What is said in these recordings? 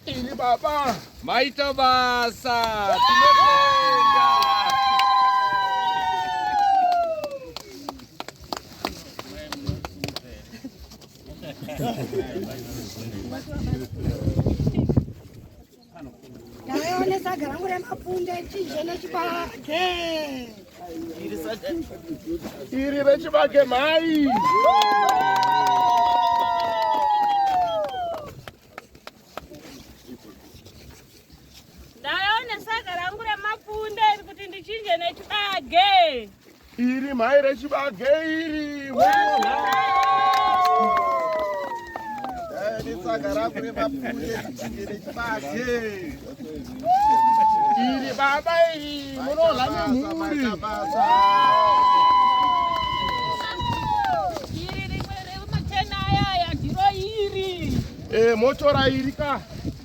Ini baba maita basa Thank you. Ndaione saga rangu remapunde chizhe nechibage. Iri rechibage mhai. Ndaione saga rangu remapunde iri kuti ndichinje nechibage. Iri mhai rechibage iri. Iri baba iri munohla nemhuri. Iri rimwe remachena aya ndiro iri. Eh motora iri ka.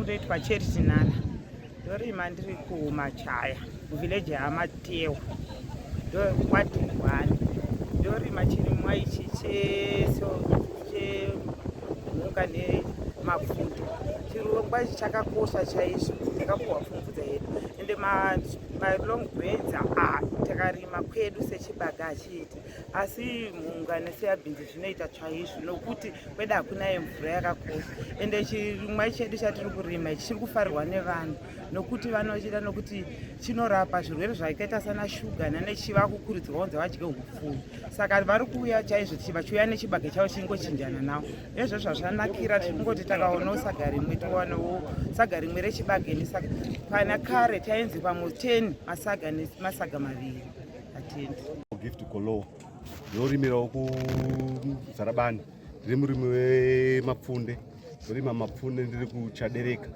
ndoitwa charity nana ndorima ndiri kumachaya muvhileji yamatewa ndokwadhungwani ndorima chirimwa ichi cheso chemhuka nemapfuta chirongwa ichi chakakosha chaizvo takapuhwa pfumvudza yedu ende malong benza a takarima kwedu sechibagachi iti asi mhungane seyabhinzi zvinoita chaizvo nokuti kweda hakuna yemvura yakakosha ende chirimwa chedu chatiri kurima ichi chiri kufarirwa nevanhu nokuti vanochida nokuti chinorapa zvirwere zvakaita sana shuga nanechiva kukurudzirwa kunzi vadye upfuyu saka vari kuuya chaizvo vachiuya nechibage chavo chingochinjana navo ezvo zvazvanakira tiri kungoti takaonawo saga rimwe tiwanowo saga rimwe rechibage nesaga kana kare tainzi pamwe 10 masaga masaga maviri Atiendi. Gift Kolo ndorimirawo kuZarabani ndiri murimi wemapfunde ndorima mapfunde ndiri kuchadereka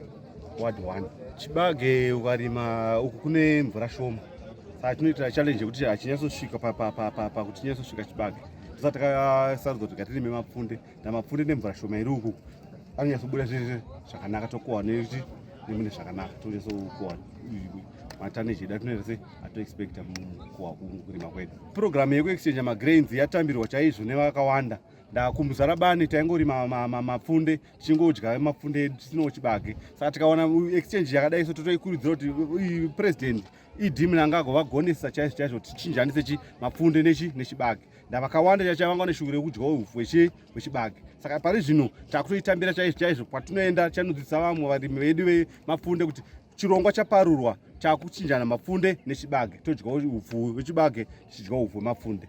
ward one chibage ukarima uku kune mvura shoma saka tinoita challenge yekuti hachinyatsosvika pakuti chinyatsosvika chibage tosati takasarudza kuti ngatirime mapfunde namapfunde nemvura shoma iri uku anonyatsobuda zvese zvakanaka tokohwa nekuti nemune zvakanaka tonyatsokohwa matani edu atinoita se atoexpecta mukohwa kungu kurima kwedu purogiramu yekuexchangea magrains yatambirwa chaizvo nevakawanda ndakumuzara bani taingorima mapfunde tichingodya mapfunde edu tisinawo chibage saka tikaona exchange yakadai so totoikurudzira kuti president idhimini anga agovagonesa chaizvo chaizvo tichinjanise chi mapfunde nechi nechibage ndavakawanda chacha vanga vane shuviro yekudya ufu hwechibage saka pari zvino takutoitambira chaizvo chaizvo kwatinoenda tichanodzidzisa vamwe varimi vedu vemapfunde kuti chirongwa chaparurwa chakuchinjana mapfunde nechibage todya ufu hwechibage tichidya ufu hwemapfunde